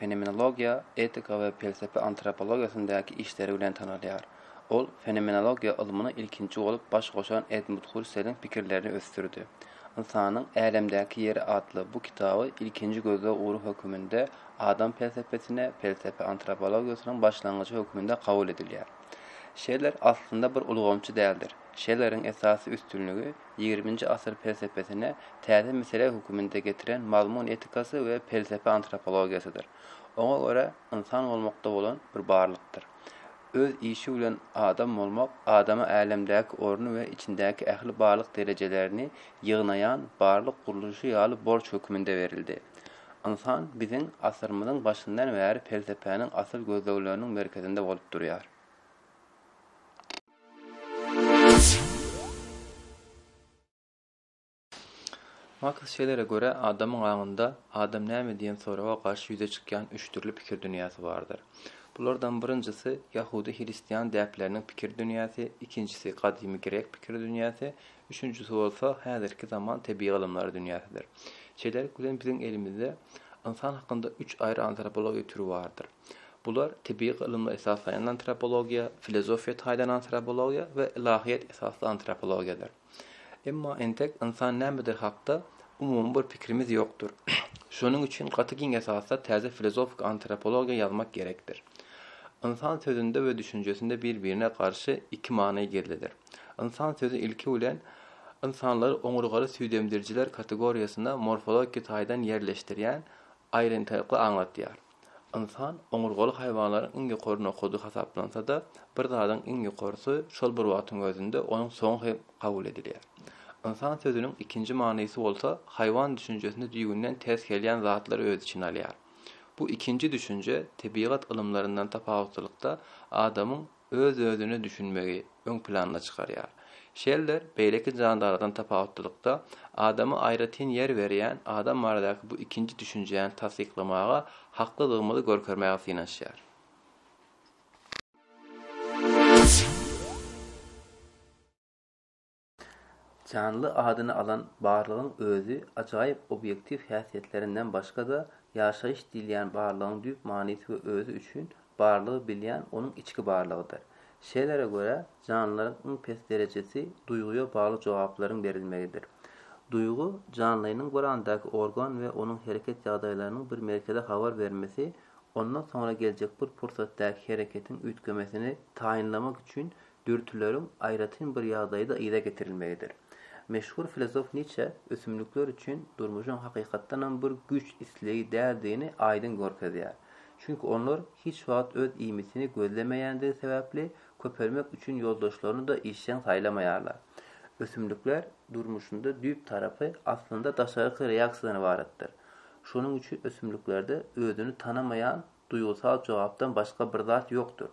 fenomenologiýa, etika we pelsepe antropologiýasyndaky işleri bilen tanalýar. Ol fenomenologiýa ylmyna ilkinji bolup baş goşan Edmund Hurseliň pikirlerini ösdürdi. Ynsanyň älemdäki ýeri atly bu kitaby ilkinji gözleg ugry höküminde adam pelsepesine pelsepe antropologiýasynyň başlangyjy höküminde kabul edilýär. Şeller aslynda bir ulgamçy däldir. Şelleriň esasy üstünligi, Ýigriminji asyr pelsepesine täze mesele höküminde getiren mazmun etikasy we pelsepe antropologiýasydyr. Oňa görä, ynsan bolmakda bolan bir barlykdyr. Öz işi bilen adam bolmak adama älemdäki orny we içindäki ähli barlyk derejelerini ýygnaýan barlyk gurluşy ýaly borç höküminde berildi. Ynsan biziň asyrymyzyň başyndan bäri pelsepäniň asyl gözlegleriniň merkezinde bolup durýar. Maks Şellere görä, adamyň aňynda Adam näme? diýen soraga garşy ýüze çykýan üç dürli pikir dünýäsi bardyr. Bulardan birinjisi, ýahudy-hristian däpleriniň pikir dünýäsi, ikinjisi, gadymy grek pikir dünýäsi, üçünjisi bolsa, häzirki zaman tebigy ylymlary dünýäsidir. Şeýlelik bilen, biziň elimizde ynsan hakynda üç aýry antropologiýa türi bardyr. Bular tebigy ylymlar esaslaýan antropologiýa, filozofiýa taýdan antropologiýa we ylahyýet esasly antropologiýadyr. Emma entek ynsan nämedir hakda umumy bir pikrimiz ýokdur. Şonuň üçin gaty giň esasda täze filozofik antropologiýa ýazmak gerekdir. Ynsan sözünde we düşünjesinde bir-birine garşy iki many gizlidir. Ynsan sözi ilki bilen ynsanlary oňurgaly süýdemdirijiler kategoriýasyna morfologiki taýdan ýerleşdirýän aýratynlykly aňlatýar. Ynsan oňurgaly haýwanlaryň iň ýokary nokady hasaplansa-da, bir zadyň iň ýokarysy şol bir wagtyň özünde onuň soňy hem kabul edilýär. Ynsan sözüniň ikinji manysy bolsa haýwan düşünjesine düýbünden ters gelýän zatlary öz içine alýar. Bu ikinji düşünje tebigat ylymlaryndan tapawutlylykda adamyň öz-özüne düşünmegi öň planyna çykarýar. Şeller beýleki jandarlardan tapawutlylykda, adama aýratyn ýer berýän, adam baradaky bu ikinji düşünjäni tassyklamaga haklydygymyzy görkezmäge synanyşýar. Janly adyny alan barlygyň özi ajaýyp obýektiw häsiýetlerinden başga-da, ýaşaýyş diýilýän barlygyň düýp manysy we özi üçin barlygy bilýän onuň içki barlygydyr. Şelere görä, janlylaryň iň pes derejesi duýgyýa bagly jogaplaryň berilmegidir. Duýgy, janlynyň bir andäki organ we onuň hereket ýagdaýlarynyň bir merkeze habar bermesi, ondan soňra geljek bir pursatdäki hereketiň üýtgemesini taýynlamak üçin dürtüleriň aýratyn bir ýagdaýda yza getirilmegidir. Meşhur filosof Niçe ösümlikler üçin durmuşyň hakykatdanam bir güýç islegi däldigini aýdyň görkezýär. Çünki onlar hiç wagt öz iýmitini gözlemeýändigi sebäpli, köpelmek üçin ýoldaşlaryny-da işjeň saýlamaýarlar. Ösümlikler durmuşynda düýp tarapy aslynda daşarky reaksiýadan ybaratdyr. Şonuň üçin ösümliklerde özüni tanamaýan Duýgusal jogapdan başga bir zat ýokdur.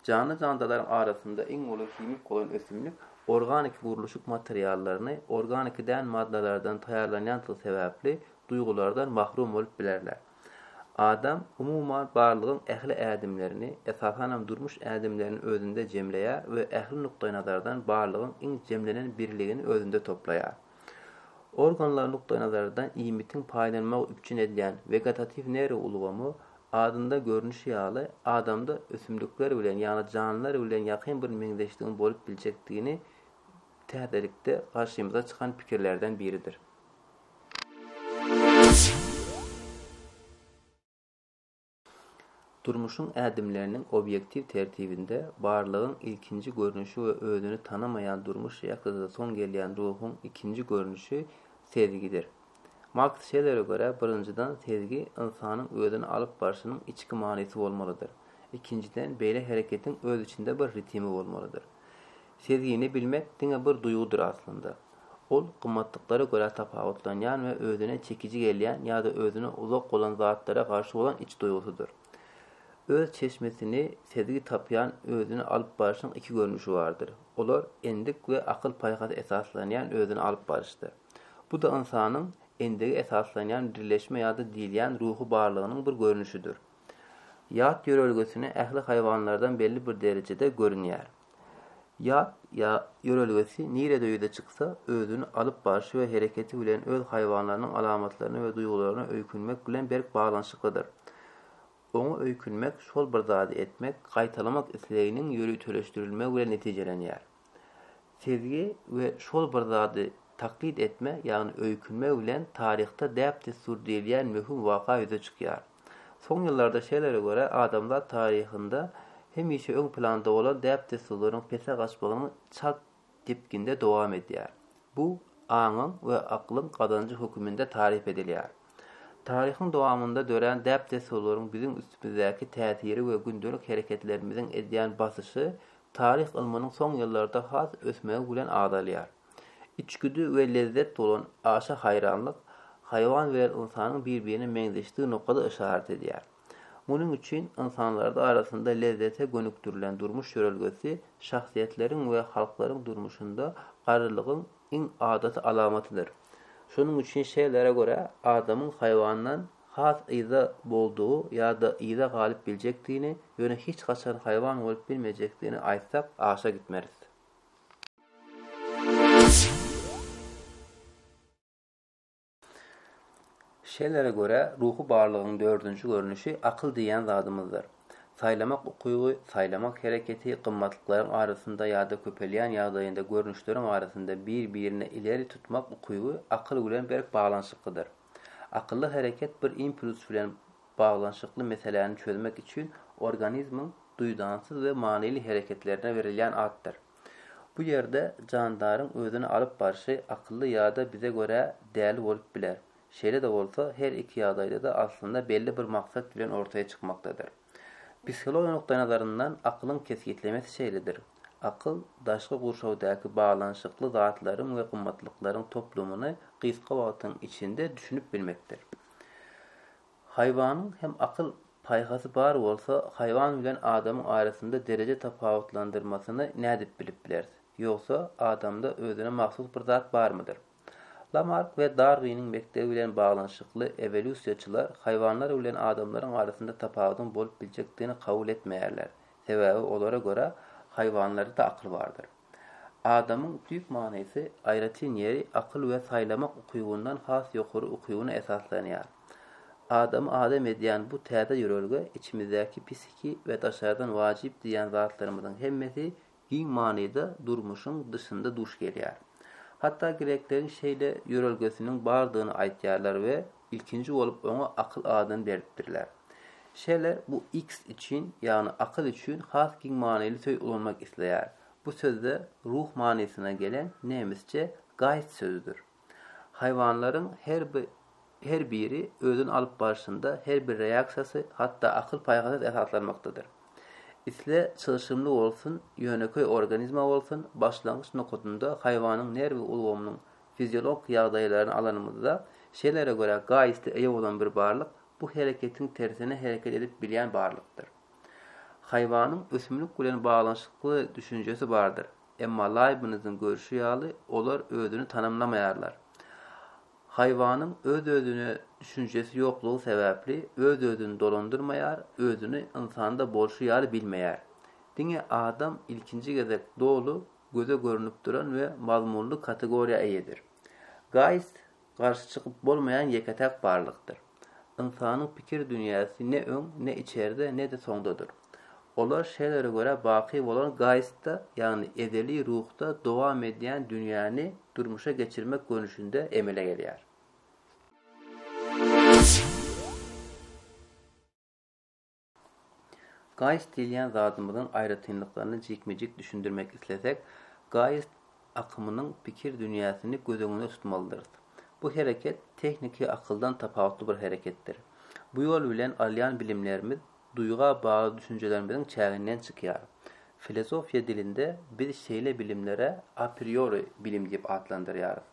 Janly-jandalaryň arasynda iň uly himik bolan ösümlik organiki gurluşyk materiallaryny organiki däl maddalardan taýýarlanýandygy sebäpli duýgulardan mahrum bolup bilerler. Adam, umuman, barlygyň ähli ädimlerini, esasanam durmuş ädimlerini özünde jemleýär we ähli nukdaýnazardan barlygyň iň jemlenen birligini özünde toplaýar. Organlar nukdaýnazaryndan iýmitiň paýlanmagy üpjün edýän wegetatiw nerw ulgamy, adynda görnüşi ýaly, adamda ösümlikler bilen, ýagny janlylar bilen ýakyn bir meňzeşligiň bolup biljekdigini täzelikde garşymyza çykan pikirlerden biridir. Durmuşyň ädimleriniň obýektiw tertibinde barlygyň ilkinji görnüşi we özüni tanamaýan durmuş reaksiýasyna soň gelýän ruhuň ikinji görnüşi sezgidir. Maks Şellere görä, birinjiden, sezgi ynsanyň özüni alyp barşynyň içki manysy bolmalydyr. Ikinjiden, beýle hereketiň öz içinde bir ritimi bolmalydyr. Sezgini bilmek diňe bir duýgudyr aslynda. Ol gymmatlyklara görä tapawutlanýan we özüne çekiji gelýän ýa-da özüne uzak bolan zatlara garşy bolan iç duýgusydyr. Öz çeşmesini sezgi tapýan özüni alyp baryşyň iki görnüşi bardyr. Olar endik we akyl-paýhasa esaslanýan özüni alyp baryşdyr. Bu-da ynsanyň endige esaslanýan birleşme ýa-da diýilýän ruhy barlygynyň bir görnüşidir. Ýat ýörelgesine ähli haýwanlardan belli bir derejede görünýär. Ýat ýa ýörelgesi nirede ýüze çyksa, özüni alyp barşy we hereketi bilen öz haýwanlarynyň alamatlaryna we duýgularyna öýkünmek bilen berk baglanyşyklydyr. Oňa öýkünmek şol bir zady etmek, gaýtalamak isleginiň ýöriteleşdirilmegi bilen netijelenýär. Sezgi we şol bir zady taklit etme, ýagny öýkünme bilen taryhda däp-dessur diýilýän möhüm waka ýüze çykýar. Soň ýyllarda şeýlere görä adamzat taryhynda hemişe öň planda bolan däp-dessurlaryň pese gaçmagynyň çalt depginde dowam edýär. Bu aňyň we aklyň gazanjy höküminde taryp edilýär. Taryhyň dowamynda dörän däp-dessurlaryň biziň üstümizdäki täsiri we gündelik hereketlerimiziň edýän basyşy taryh ylmynyň soň ýyllarda has ösmegi bilen azalýar. Içgüdi we lezzet bolan aşa haýranlyk haýwan bilen ynsanyň bir-birine meňzeşdigi nokada yşarat edýär. Munuň üçin ynsanlarda arasynda lezzete gönükdirilen durmuş ýörelgesi şahsyýetleriň we halklaryň durmuşynda garrylygyň iň adaty alamatydyr. Şonuň üçin şeýlere görä adamyň haýwandan has yza boldugy ýa-da yza galyp biljekdigini, ýöne hiç haçan haýwan bolup bilmejekdigini aýtsak aşa gitmeris. Şelere görä, ruhy barlygyň dördünji görnüşi akyl diýýän zadymyzdyr. Saýlamak ukyby, saýlamak hereketi gymmatlyklaryň arasynda ýa-da köpelýän ýagdaýynda görnüşleriň arasynda bir-birini ileri tutmak ukyby akyl bilen berk baglanyşyklydyr. Akylly hereket bir impuls bilen Baglanyşykly meseläni çözmek üçin organizmiň duýdansyz we manyly hereketlerine berilýän atdyr. Bu ýerde jandaryň özüni alyp barşy akylly ýa-da bize görä däli bolup biler. Şeýle-de bolsa, her iki ýagdaýda-da aslynda belli bir maksat bilen ortaya çykmakdadyr. Psihologiýa nukdaýnazaryndan akylyň kesgitlemesi şeýledir, Akyl, daşky gurşawdaky baglanyşykly zatlaryň we gymmatlyklaryň toplumyny gysga wagtyň içinde düşünip bilmekdir. Haýwanyň hem akyl paýhasy bar bolsa, haýwan bilen adamyň arasynda dereje tapawutlandyrmasyny nädip bilip bileris? Ýogsa, adamda özüne mahsus bir zat barmydyr? Lamark we Darwiniň mekdebi bilen baglanyşykly ewolýusiýaçylar haýwanlar bilen adamlaryň arasynda tapawudyň bolup biljekdigini kabul etmeýärler, sebäbi olara görä, haýwanlarda-da akyl bardyr. Adamyň düýp manysy, aýratyn ýeri akyl we saýlamak ukybyndan has ýokary ukybyna esaslanýar. Adamy adam edýän bu täze ýörelge içimizdäki psihiki we daşardan wajyp diýýän zatlarymyzyň hemmesi giň manyda durmuşyň dyşynda duş gelýär. Hatda grekleriň şeýle ýörelgesiniň bardygyny aýtýarlar we Ilkinji bolup oňa akyl adyny beripdirler. Şele bu X üçin, ýagny akyl üçin has giň manyly söz ulanmak isleýär. Bu sözde ruh manysyna gelen nemisçe Geist sözüdir. Haýwanlaryň her her biri özüni alyp barşynda her bir reaksiýasy hatda akyl-paýhasa esaslanmakdadyr. Isle çylşyrymly bolsun, ýönekeý organizma bolsun, başlangyç nokadynda haýwanyň nerwi ulgamynyň Fiziolog ýagdaýlaryny alanymyzda, şelere görä gaýysly eýe bolan bir barlyk bu hereketiň tersine hereket edip bilýän barlykdyr. Haýwanyň ösümlik bilen baglanyşykly düşünjesi bardyr, emma Laýbniziň görşi ýaly olar özüni tanamlamaýarlar. Haýwanyň öz-özüne düşünjesi ýoklugy sebäpli öz-özüni dolandyrmaýar, özüni ynsanda bolşy ýaly bilmeýär. Diňe adam ilkinji gezek doly göze görnüp duran we mazmunly kategoriýa eýedir. Geist garşy çykyp bolmaýan ýeke-täk barlykdyr. Ynsanyň pikir dünýäsi ne öň, ne içerde, ne-de soňdadyr. Olar Şelere görä baky bolan geistda, ýagny ezeli ruhda dowam edýän dünýäni durmuşa geçirmek görnüşinde emele gelýär. Gaýyst diýilýän zadymyzyň aýratynlyklaryny jikme-jik düşündirmek islesek, gaýyst akymynyň pikir dünýäsini göz öňünde tutmalydyrys. Bu hereket tehniki akyldan tapawutly bir hereketdir. Bu ýol bilen alýan bilimlerimiz duýga bagly düşünjelerimiziň çäginden çykýar. Filozofiýa dilinde biz şeýle bilimlere apriori bilim diýip atlandyrýarys.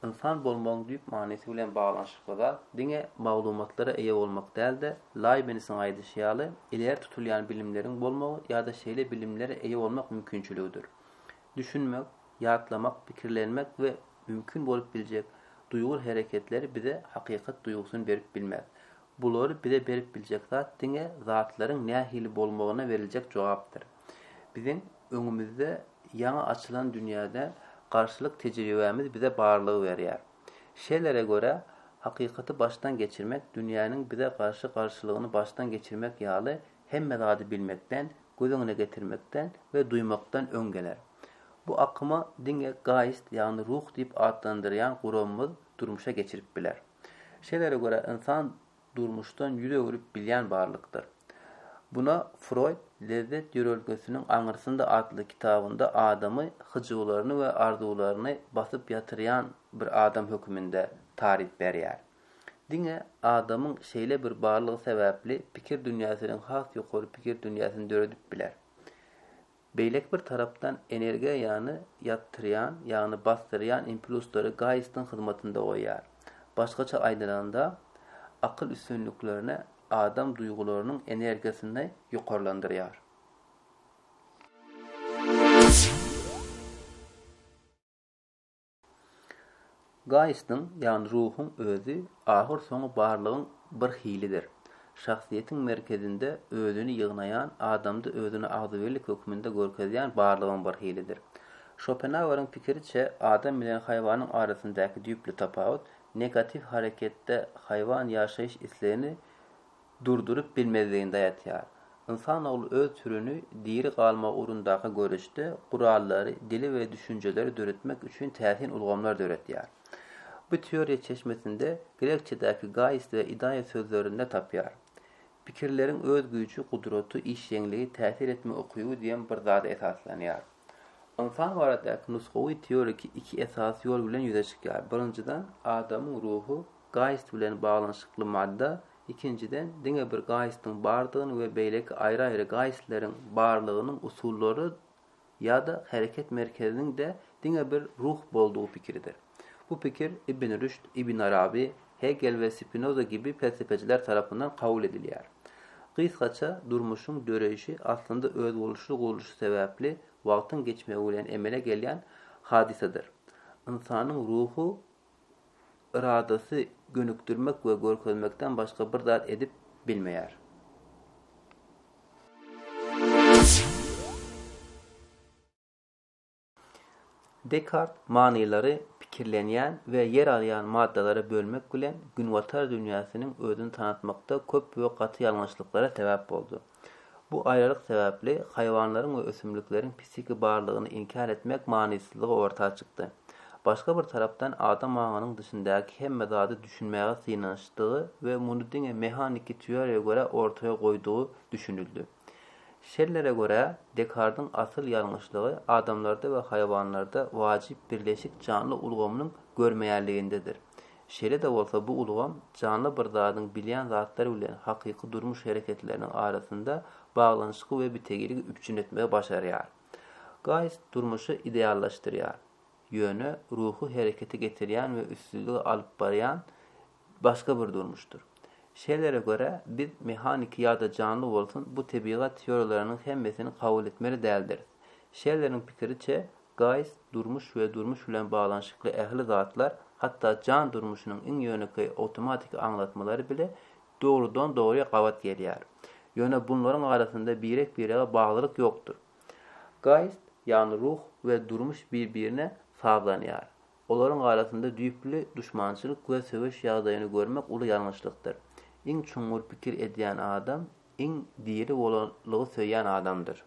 Ynsan bolmagyň düýp manysy bilen baglanyşykly zat diňe maglumatlara eýe bolmak däl-de, Laýbnisiň aýdyşy ýaly, ileri tutulýan bilimleriň bolmagy ýa-da şeýle bilimlere eýe bolmak mümkinçiligidir. Düşünmek, ýatlamak, pikirlenmek we mümkin bolup biljek duýgur hereketleri bize hakykat duýgusyny berip bilmez. Bulary bize berip biljek zat diňe zatlaryň nähili bolmagyna beriljek jogapdyr. Biziň öňümizde ýaňy açylan dünýäde garşylyk tejribämiz bize barlygy berýär. Şelere görä, hakykaty başdan geçirmek dünýäniň bize garşy garşylygyny başdan geçirmek ýaly hemme zady bilmekden, göz öňüne getirmekden we duýmakdan öň geler. Bu akymy diňe gaýst ýagny ruh diýip atlandyrýan guramymyz durmuşa geçirip biler. Şelere görä ynsan durmuşdan ýüz öwrüp bilýän barlykdyr. Buna Froýd Lezzet ýörelgesiniň aňyrsynda atly kitabynda adamy hyjuwlaryny we arzuwlaryny basyp ýatyrýan bir adam höküminde taryp berýär. Diňe adamyň şeýle bir barlygy sebäpli pikir dünýäsiniň has ýokary pikir dünýäsini döredip biler. Beýleki bir tarapdan energiýany ýatyrýan, ýagny basdyrýan impluslary Gaýystyň hyzmatynda goýýar. Başgaça aýdylanda, akyl üstünliklerini adam duýgularynyň energiýasyny ýokarlandyrýar. Gaýystyň, ýagny ruhuň özi ahyrsoňy barlygyň bir hilidir. Şahsyýetiň merkezinde özüni ýygnaýan, adamda özüni agzybirlik hökmünde görkezýän barlygyň bir hilidir. Şopenaueriň pikiriçe, adam bilen haýwanyň arasyndaky düýpli tapawut, negatiw hareketde haýwan ýaşaýyş islegini, durduryp bilmezligini daýatýar. Ynsan ogly öz türüni diri galmak ugrundaky göreşde gurallary, dili we düşünjeleri döretmek üçin täsin ulgamlar döredýär. Bu teoriýa çeşmesinde grekçedäki gaist we ideia sözlerinde tapýar. Pikirleriň öz güýji, gudraty, işjeňligi, täsir etme ukyby diýen bir zada esaslanýar. Ynsan baradaky nusgawy teoriki iki esasy ýol bilen ýüze çykýar. Birinjiden, adamyň ruhy gaýyst bilen baglanyşykly madda, ikinjiden, diňe bir gaýystyň bardygyny we beýleki aýry-aýry gaýystleriň barlygynyň usullary ýa-da hereket merkeziniň-de diňe bir ruh boldugy pikiridir. Bu pikir Ibn Rüşd, Ibn Arabi, Hegel we Spinoza gibi pelsepeçiler tarapyndan kabul edilýär. Gysgaça, durmuşyň döreýşi aslynda özboluşly gurluşy sebäpli wagtyň geçmegi bilen emele gelýän hadysadyr. Ynsanyň ruhy yradasy gönükdirmek we görkezmekden başga bir zat edip bilmeýär. Dekart manylary pikirlenýän we ýer alýan maddalara bölmek bilen günbatar dünýäsiniň özüni tanatmakda köp we gaty ýalňyşlyklara sebäp boldy. Bu aýralyk sebäpli haýwanlaryň we ösümlikleriň psihiki barlygyny inkär etmek manysyzlygy orta çykdy. Başga bir tarapdan adam aňynyň dyşyndaky hemme zady düşünmäge synanyşdygy we muny diňe mehaniki teoriýa görä ortaýa goýdugy düşünildi. Şellere görä, Dekardyň asyl ýalňyşlygy adamlarda we haýwanlarda wajyp birleşik janly ulgamynyň görmeýänligindedir. Şeýle-de bolsa bu ulgam janly bir zadyň bilýän zatlary bilen hakyky durmuş hereketleriniň arasynda baglanyşygy we bitegiligi üpjün etmegi başarýar. Gaýs durmuşy ideallaşdyrýar, ýöne ruhy herekete getirýän we üstünlige alyp barýan başga bir durmuşdyr. Şeýlere görä, biz mehaniki ýa-da janly bolsun bu tebigat teoriýalarynyň hemmesini kabul etmeli däldiris. Şelleriň pikiriçe, Gaýst, durmuş we durmuş bilen baglanyşykly ähli zatlar, hatda jan durmuşynyň iň ýönekeý awtomatiki aňlatmalary bile dogrudan-dogry gabat gelýär. Ýöne bunlaryň arasynda birek-birege baglylyk ýokdur. Gaýst, ýagny ruh we durmuş bir-birine sazlanýar. Olaryň arasynda düýpli duşmançylyk we söweş ýagdaýyny görmek uly ýalňyşlykdyr. Iň çuňňur pikir edýän adam iň diri bolanlygy söýýän adamdyr.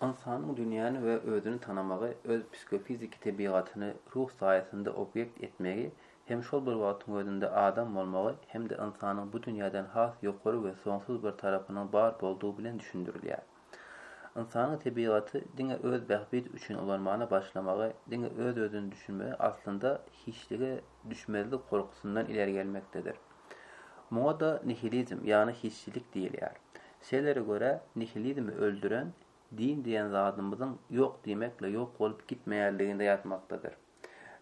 Ynsanyň dünýäni we özüni tanamagy, öz psikofiziki tebigatyny ruh saýasynda obýekt etmegi hem şol bir wagtyň özünde adam bolmagy hem-de ynsanyň bu dünýäden has ýokary we soňsuz bir tarapynyň bar boldugy bilen düşündirilýär. Ynsanyň tebigaty diňe öz bähbidi üçin ulanmana başlamagy, diňe öz-özüni düşünmegi aslynda hiçlige düşmezlik gorkusyndan ileri gelmekdedir. Muňa-da nihilizm, ýagny hiçlik diýilýär. Sellere görä, nihilizmi öldüren, din diýen zadymyzyň ýok diýmekle ýok bolup gitmeýänliginde ýatmakdadyr.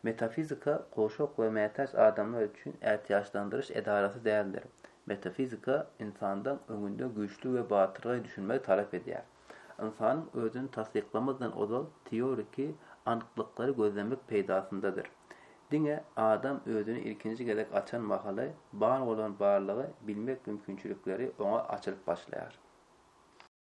Metafizika gowşak we mätäç adamlar üçin ätiýaçlandyryş edarasy däldir. Metafizika ynsandan öňünde güýçli we batyrgaý düşünmegi talap edýär. Ynsanyň özüni tassyklamazdan ozal teoriki anyklyklar gözlemek peýdasyndadyr. Diňe adam özüni ilkinji gezek açan mahaly bar bolan barlygy bilmek mümkinçilikleri oňa açylyp başlaýar.